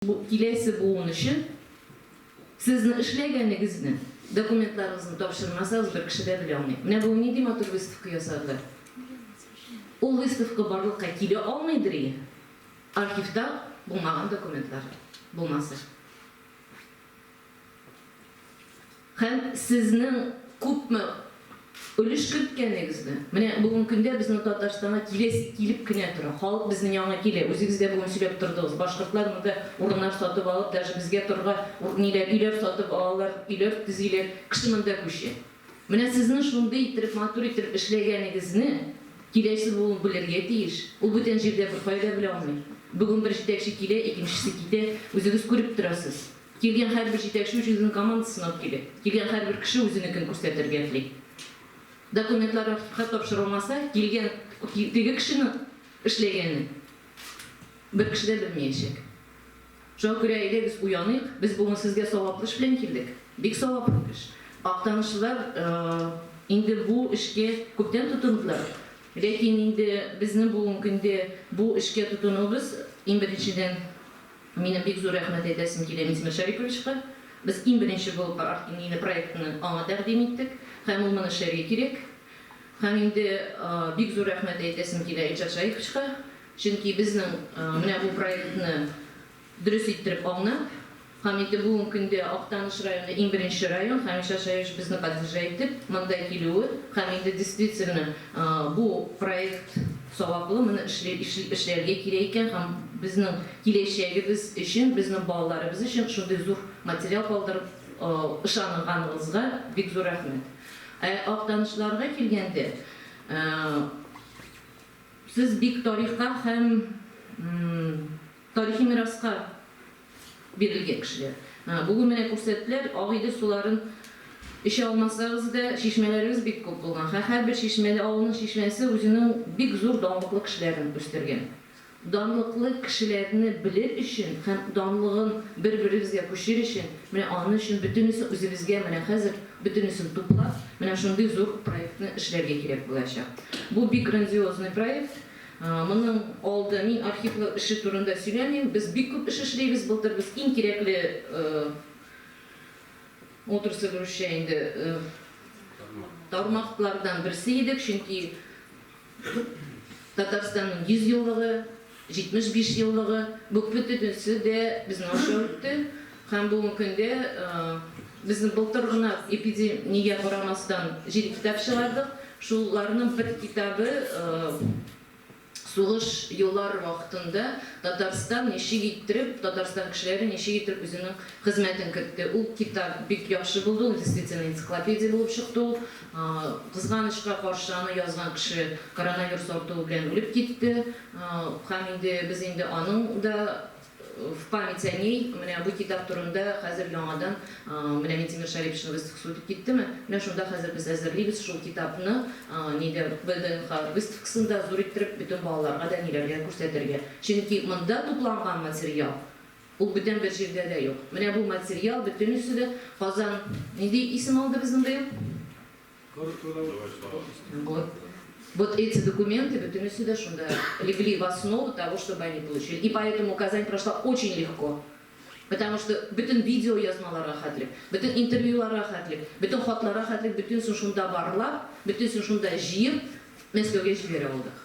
Бу киләсе буын өчен сезнең эшләгәнегезне, документларыгызны тапшырмасагыз, бер кеше дә белә алмый. Менә бүген нинди матур выставка ясадылар. Ул выставка барлыкка килә алмыйдыр ие, архивта булмаган документлар булмаса. Һәм сезнең күпме өлеш керткәнегезне, менә бүгенге көндә безнең Татарстанга киләсе килеп кенә тора. Халык безнең янга килә. Үзегез дә бүген сөйләп тордыгыз, башкортлар монда урыннар сатып алып, даже безгә торырга ур ниләр, өйләр сатып алалар, өйләр төзиләр, кеше монда күчә. Менә сезнең шундый иттереп, матур иттереп эшләгәнегезне киләсе буын белергә тиеш. Ул бүтән җирдә беркая да белә алмый. Бүген бер җитәкче килә, икенчесе китә, үзегез күреп торасыз. Килгән һәрбер җитәкче үзенең командасын алып килә. Килгән һәрбер кеше үзенекен күрсәтергә тли. Документлар архивка тапшырылмаса, килгән теге кешенең эшләгәнен бер кеше дә белмиячәк. Шуңа күрә әйдәгез уяныйк, без бүген сезгә саваплы эш белән килдек. Бик саваплы эш. Актанышлылар инде бу эшкә күптән тотындылар. Ләкин инде безнең бүген көндә бу эшкә тотынуыбыз, иң беренчедән, Минем бик зур рәхмәт әйтәсем килә Минтимер Шәриповичка. Без иң беренче булып Арт-Иңгине проектны аңа тәкъдим иттек һәм ул моны эшләргә кирәк. Һәм инде бик зур рәхмәт әйтәсем килә Илшат Шаиповичка, чөнки безнең менә бу проектны дөрес иттереп аңнап һәм инде бүгенге көндә Актаныш районы иң беренче район һәм Илшат Шаипович безне поддержать итеп монда килүе һәм инде действительно бу проект Саваплы моны эшләргә кирәк икән һәм безнең киләчәгебез өчен, безнең балаларыбыз өчен шундый зур материал калдырып ышанганыгызга бик зур рәхмәт. Ә Актанышлыларга килгәндә, сез бик тарихка һәм. Тарихи мираска бирелгән кешеләр. Бүген менә күрсәттеләр, Ак Идел суларын эчә алмасагыз да, чишмәләрегез бик күп булган. Һәрбер чишмәле авылның чишмәсе үзенең бик зур данлыклы кешеләрен үстергән. Данлыклы кешеләрне белер өчен һәм данлыгын бер-берегезгә күчер өчен, менә аны өчен бөтенесе үзебезгә менә хәзер бөтенесен туплап, менә шундый зур проектны эшләргә кирәк булачак. Бу бик грандиозный проект. Моның алды мин архивлар эше турында сөйләмим. Без бик күп эш эшлибез. Былтыр без иң кирәкле отрасль русча инде тармаклардан берсе идек, чөнки Татарстанның 100 еллыгы, 75 еллыгы, бу бөтенесе дә безнең аша үтте. Һәм бүгенге көндә без былтыр гына эпидемия карамастан җиде китап чыгардык. Шуларның бер китабы сугыш еллары вакытында Татарстан ничек иттереп, Татарстан кешеләре ничек иттереп үзенең хезмәтен кертте. Ул китап бик яхшы булды, ул действительно энциклопедия булып чыкты ул. Кызганычка каршы, аны язган кеше коронавирус артуы белән үлеп китте. Һәм инде без инде аның да В память о ней, менә бу китап турында хәзер яңадан, менә Минтимер Шәрипшин выставкасы үтеп киттеме, менә шунда хәзер без әзерлибез шул китапны, нидә, ВДНХ выставкасында зур иттереп бөтен балаларга да, ниләргә күрсәтергә. Чөнки монда тупланган материал, ул бүтән бер җирдә дә юк. Менә бу материал бөтенесе дә Казан, нинди исем алды безнең быел? Вот. Вот эти документы, бөтенесе дә шунда легли в основу того, чтобы они получили. И поэтому Казань прошла очень легко. Потому что бөтен видео язмаларга хәтлек, бөтен интервьюларга хәтлек, бөтен хатларга хәтлек, бөтенесен шунда барлап, бөтенесен шунда җыеп, Мәскәүгә җибәрә алдык.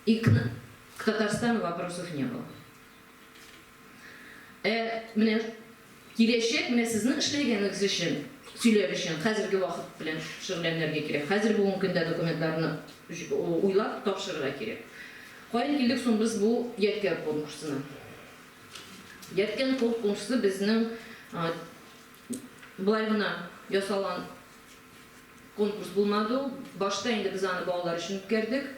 И к, к Татарстану вопросов не было. Ә менә киләчәк, менә сезнең эшләгәнегез өчен сөйләр өчен хәзерге вакыт белән шөгыльләнергә кирәк. Хәзер бүгенге көндә документларны уйлап тапшырырга кирәк. Каян килдек соң без бу Ядкәр конкурсына? Ядкәр конкурсы безнең болай гына ясалган Конкурс булмады ул. Башта инде без аны балалар өчен үткәрдек.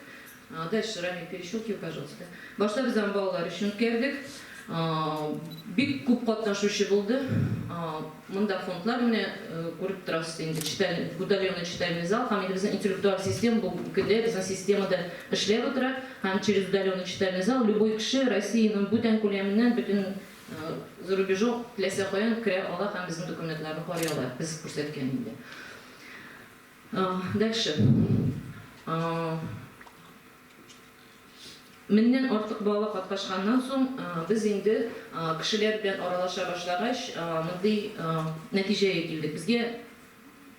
Дальше, Рамиль, перещелкивай, пожалуйста. Башта без аны балалар өчен үткәрдек. Бик күп катнашучы булды. Монда фондлар, менә күреп торасыз инде, читаль, утоленный читальный зал һәм инде безнең интеллектуаль систем бу көндә безнең системада эшләп утыра һәм через удаленный читальный зал любой кеше Россиянең бүтән күләменнән, бөтен За рубежу теләсә каян керә ала һәм безнең документларны карый ала, без күрсәткән инде. Дальше. Меңнән артык бала каткашканнан соң, без инде кешеләр белән аралаша башлагач, мондый нәтиҗәгә килдек. Безгә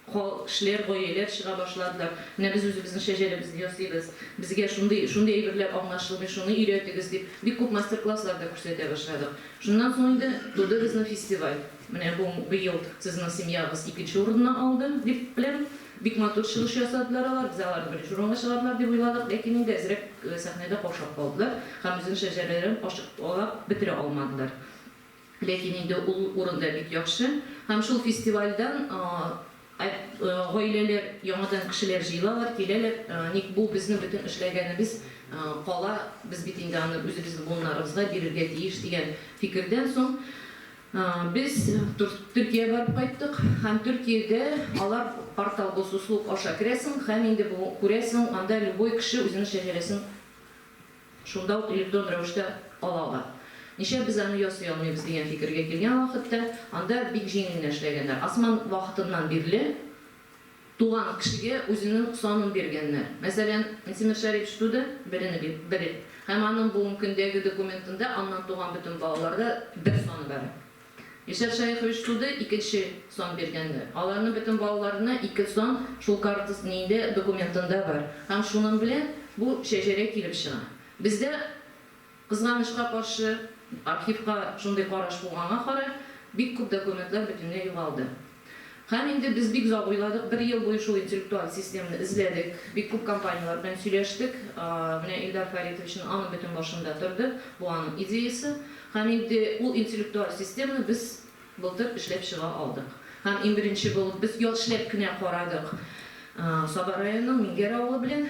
Кол, шлер, гоелер чыга башладылар. Менә без үзебезнең шәҗәрәбезне ясыйбыз. Безгә шундый, шундый әйберләр аңлашылмый, шуны өйрәтегез, дип, бик күп мастер-класслар да күрсәтә башладык. Шуннан соң инде туды безнең фестиваль. Менә бу, быел сезнең семьягыз икенче урынны алды, дип беләм. Бик матур чыгыш ясадылар алар. Без аларны беренче урынга чыгардылар дип уйладык, ләкин инде әзрәк сәхнәдә каушап калдылар һәм үзенең шәҗәрәләрен ачыклап бетерә алмадылар. Ләкин инде ул урын да бик яхшы. Һәм шул фестивальдан гаиләләр, яңадан кешеләр җыелалар, киләләр. Ник бу безнең бөтен эшләгәнебез кала, без бит инде аны үзебезнең буыннарыбызга бирергә тиеш, дигән фикердән соң без Төркия барып кайттык. Һәм Төркиядә алар портал Госуслуг аша керәсең һәм инде бу күрәсең, анда любой кеше үзенең шәҗәрәсен, Шунда ук электронн рәвештә ала алар. Нишләп без аны ясый алмыйбыз дигән фикергә килгән вакытта, анда бик җиңел генә эшләгәннәр. Осман вакытыннан бирле туган кешегә үзенең санын биргәннәр. Мәсәлән, Минтимер Шәрипович туды, берене бир, бер һәм аның бүгенге көндәге документында аннан туган бөтен балаларда бер саны бар. Ишәр шәех оештырды, икенче сан биргәннәр. Аларның бөтен балаларына ике сан, шул картасын инде документында бар. Һәм шуның белән бу шәҗәрә килеп чыга. Бездә, кызганычка каршы, архивка шундый караш булганга карар, бик күп документлар бөтенләй югалды. Һәм инде без бик озак уйладык, бер ел буе шул интеллектуаль системны эзләдек, бик күп компанияләр белән сөйләштек. Менә Илдар Фәритовичның аның бөтен башында торды, бу аның идеясе. Һәм инде ул интеллектуаль системны без былтыр эшләп чыга алдык. Һәм иң беренче булып без яшьләп кенә карадык Саба районының Мингәр авылы белән.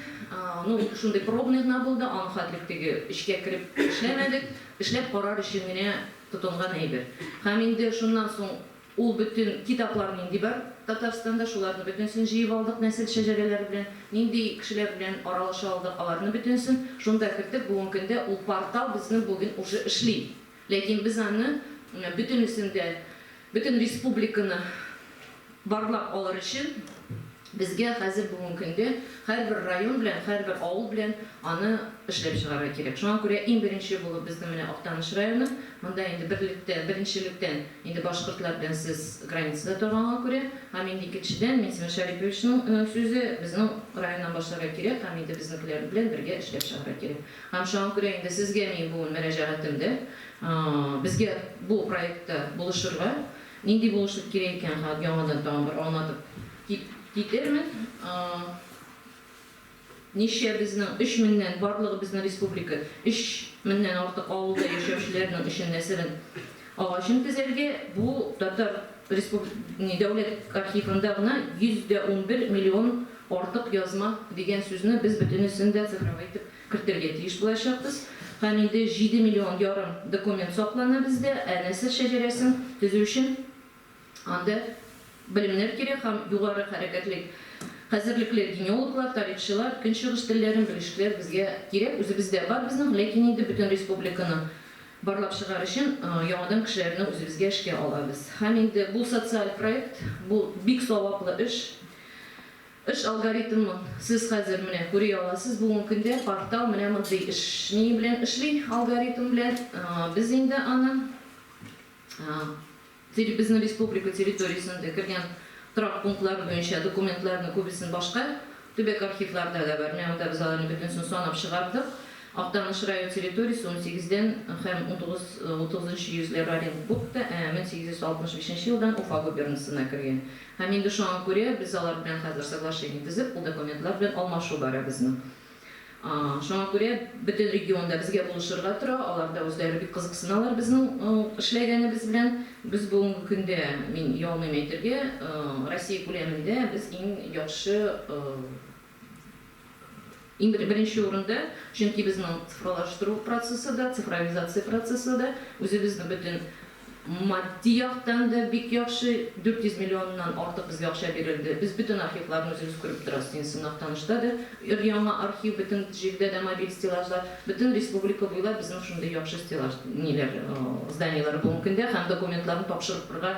Ну, шундый пробный гына булды, аны хәтлек теге эчкә кереп эшләмәдек, эшләп карар өчен генә тотынган әйбер. Һәм инде шуннан соң Ул бөтен китаплар нинди бар Татарстанда, шуларны бөтенесен җыеп алдык, нәсел шәҗәрәләре белән, нинди кешеләр белән аралаша алдык, аларны бөтенесен шунда керттек. Бүгенге көндә ул портал безнең бүген уже эшли. Ләкин без аны бөтенесен дә, бөтен республиканы барлап алыр өчен, Безгә хәзер бүгенге көндә һәрбер район белән, һәрбер авыл белән аны эшләп чыгарга кирәк. Шуңа күрә иң беренче булып безнең менә Актаныш районы. Монда инде берлектә, беренчелектән инде башкортлар белән сез границада торганга күрә, һәм инде икенчедән Минсимер Шәриповичның сүзе, безнең районнан башларга кирәк һәм инде безнекеләр белән бергә эшләп чыгарга кирәк. Һәм шуңа күрә инде сезгә минем бүген мөрәҗәгатем дә, безгә бу проектта булышырга, Нинди булышлык кирәк икән, хат яңадан тагын бер аңлатып китермен. Ничә безнең, өч меңнән, барлыгы безнең республика, өч меңнән артык авылда яшәүчеләрнең өчен нәсерен агачын тезәргә, бу татар дәүләт архивында гына 111 миллион артык язма дигән сүзне без бөтенесен дә цифровой итеп кертергә тиеш булачакбыз һәм инде җиде миллион ярым документ саклана бездә, ә нәсел шәҗәрәсен төзү өчен анда белемнәр кирәк һәм югары хәрәкәтлек хәзерлекле генеологлар, тарихчылар, көнчыгыш телләрен белүчеләр безгә кирәк, үзебездә бар безнең, ләкин инде бөтен республиканы барлап чыгар өчен яңадан кешеләрне үзебезгә эшкә алабыз һәм инде бу социаль проект, бу бик саваплы эш. Эш алгоритмы? Сез хәзер, менә күри аласыз, бүгенге көндә портал менә мондый эш ние белән эшли, алгоритм белән. Без инде аны безнең республика территориясендә кергән торак пунктлары буенча документларны күбесен башка төбәк архивларда да бар, менә монда без аларны бөтенесен санап чыгардык. Актаныш район территориясе унсигез дән һәм унтугыз, утызынчы йөзләр Оренбургта, ә мең сигез йөз алтмыш бишенче елдан Уфа губернасына кергән. Һәм инде шуңа күрә без алар белән хәзер соглашение төзеп, ул документлар белән алмашу бара безнең. Шуңа күрә бөтен регион да безгә булышырга тора, алар да үзләре бик кызыксыналар безнең эшләгәнебез белән. Без бүгенге көндә, мин оялмыйм әйтергә, Россия күләмендә без иң яхшы Иң беренче урында, чөнки безнең цифралаштыру процессы да, цифровизация процессы да үзебезне бөтен матди яктан да бик яхшы, 400 миллионнан артык безгә акча бирелде. Без бөтен архивларны үзебез күреп торабыз. Син сыннак танышта да өр-яңа архив, бөтен җирдә дә мобиль стеллажлар. Бөтен республика буйлап безнең шундый яхшы стеллаж, ниләр, зданиеләр булган көндә һәм документларны тапшырырга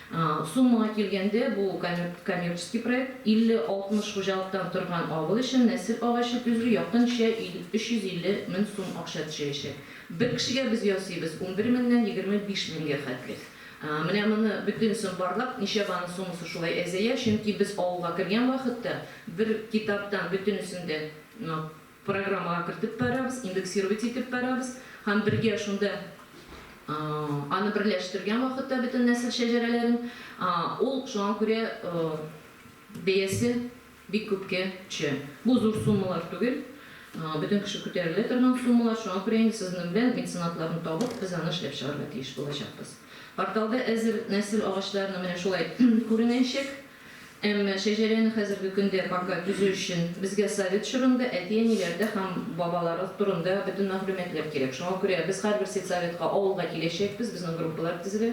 Суммага килгәндә, бу коммерческий проект, 50-60 хуҗалыктан торган авыл өчен нәсел агачы төзү якынча 350 мең сум акча төшәячәк. Бер кешегә без ясыйбыз унбер меңнән егерме биш меңгә хәтле. Менә моны бөтенесен барлап, ничәбә аның суммасы шулай әзәя, чөнки без авылга кергән вакытта бер китаптан бөтенесен дә Программага кертеп барабыз, индексировать итеп барабыз һәм бергә шунда аны берләштергән вакытта бөтен нәсел шәҗәрәләрен, ул шуңа күрә бәясе бик күпкә төшә. Бу зур суммалар түгел, бөтен кеше күтәрелә торган суммалар, шуңа күрә инде сезнең белән меценатларны табып, без аны эшләп чыгарга тиеш булачакбыз. Порталда әзер нәсел агачларының менә шулай күренәячәк. Әмма шәҗәрәне хәзерге көндә пока төзү өчен безгә совет чорында әти-әниләрдә һәм бабалары турында бөтен мәгълүматлар кирәк. Шуңа күрә без һәрбер сельсоветка, авылга киләчәкбез, безнең группалар тезелә.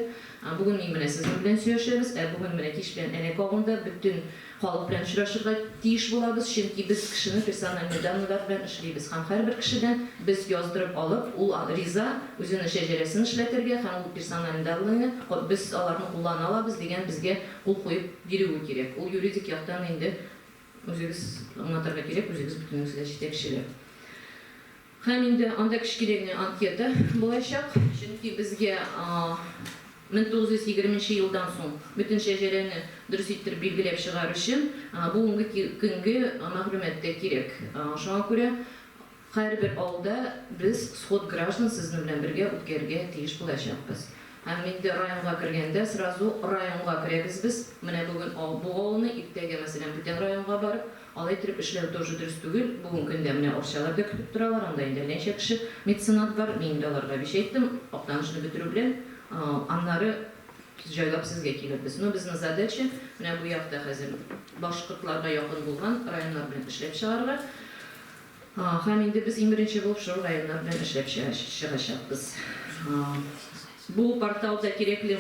Бүген мин менә сезнең белән сөйләшәбез, ә бүген менә кич белән Әләк авылында бөтен халык белән очрашырга тиеш булабыз, чөнки без кешенең персональный данныйлары белән эшлибез һәм һәрбер кешедән без яздырып алып, ул риза үзенең шәҗәрәсен эшләтергә һәм ул персональный данныйны без аларны куллана алабыз дигән безгә кул куеп бирүе кирәк. Ул юридик яктан инде үзегез аңлатырга кирәк, үзегез бөтенегез дә җитәкчеләр. Һәм инде анда кечкенә генә анкета булачак, чөнки безгә 1920 нче елдан соң бөтен шәҗәрәне дөрес иттереп билгеләп чыгар өчен бүгенге көнге мәгълүмат та кирәк. Шуңа күрә Һәрбер авылда без сход граждан сезнең белән бергә үткәрергә тиеш булачакбыз. Һәм инде районга кергәндә сразу районга керәбез без. Менә бүген бу авылны, иртәгә, мәсәлән, бүтән районга барып, алай иттереп эшләү тоже дөрес түгел. Бүген көндә менә Арчаларда көтеп торалар, анда инде әлләничә кеше меценат бар. Мин инде аларга биш әйттем, Актанышны бетерү белән, аннары җайлап сезгә килербез. Но безнең задача, менә бу якта хәзер башкортларга якын булган районнар белән эшләп чыгарга. Һәм инде без иң беренче булып Шыру районнары белән эшләп чыгачакбыз. Бу портал да кирәкле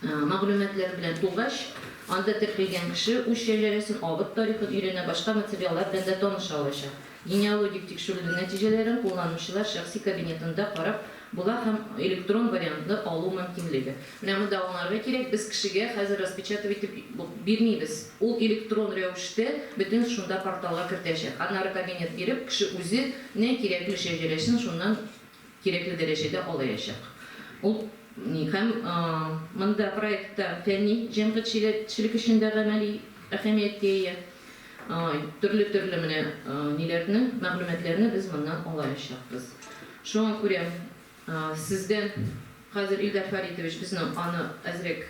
мәгълүматлар белән тулгач, анда теркәлгән кеше үз шәҗәрәсен, авыл тарихын өйрәнә, башка материаллар белән дә таныша алачак. Генеалогик тикшерүнең нәтиҗәләрен кулланучылар шәхси кабинетында карап, була һәм электрон вариантны алу мөмкинлеге. Менә монда аңларга кирәк, без кешегә хәзер распечатав итеп бирмибез. Ул электрон рәвештә бөтен шунда порталга кертәчәк. Аннары кабинет биреп, кеше үзе нә кирәкле шәҗәрәсен шуннан кирәкле дәрәҗәдә алаячак. Ул ни һәм монда проектта фәнни җәмгытьчелек өчен дә гамәли әһәмияткә ия. Төрле-төрле менә ниләрне, мәгълүматларны без моннан алаячакбыз. Шуңа күрә сездән хәзер, Илдар Фәритович, безнең аны әзрәк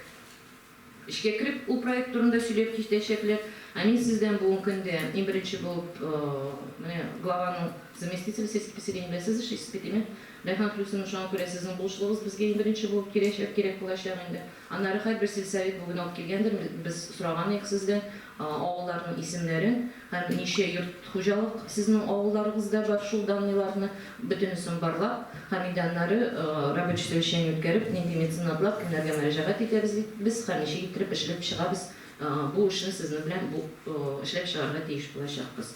эчкә кереп ул проект турында сөйләп китәчәкләр. Ә мин сездән бүген көндә иң беренче булып менә главаның заместителе сельских поселений белән сез эшлисез бит, димәк, Рәйхан Хлюсовна, шуңа күрә сезнең булышлыгыгыз безгә иң беренче булып кирәчәк, кирәк булачак инде. Аннары һәрбер сельсовет бүген алып килгәндер, без сораган идек сездән авылларның исемнәрен һәм ничә йорт хуҗалык сезнең авылларыгызда бар шул данныйларны, бөтенесен барлап һәм инде аннары рабочий совещание үткәреп, нинди меценатлар, кемнәргә мөрәҗәгать итәбез бит без һәм ничек иттереп эшләп чыгабыз бу эшне сезнең белән бу эшләп чыгарга тиеш булачакбыз.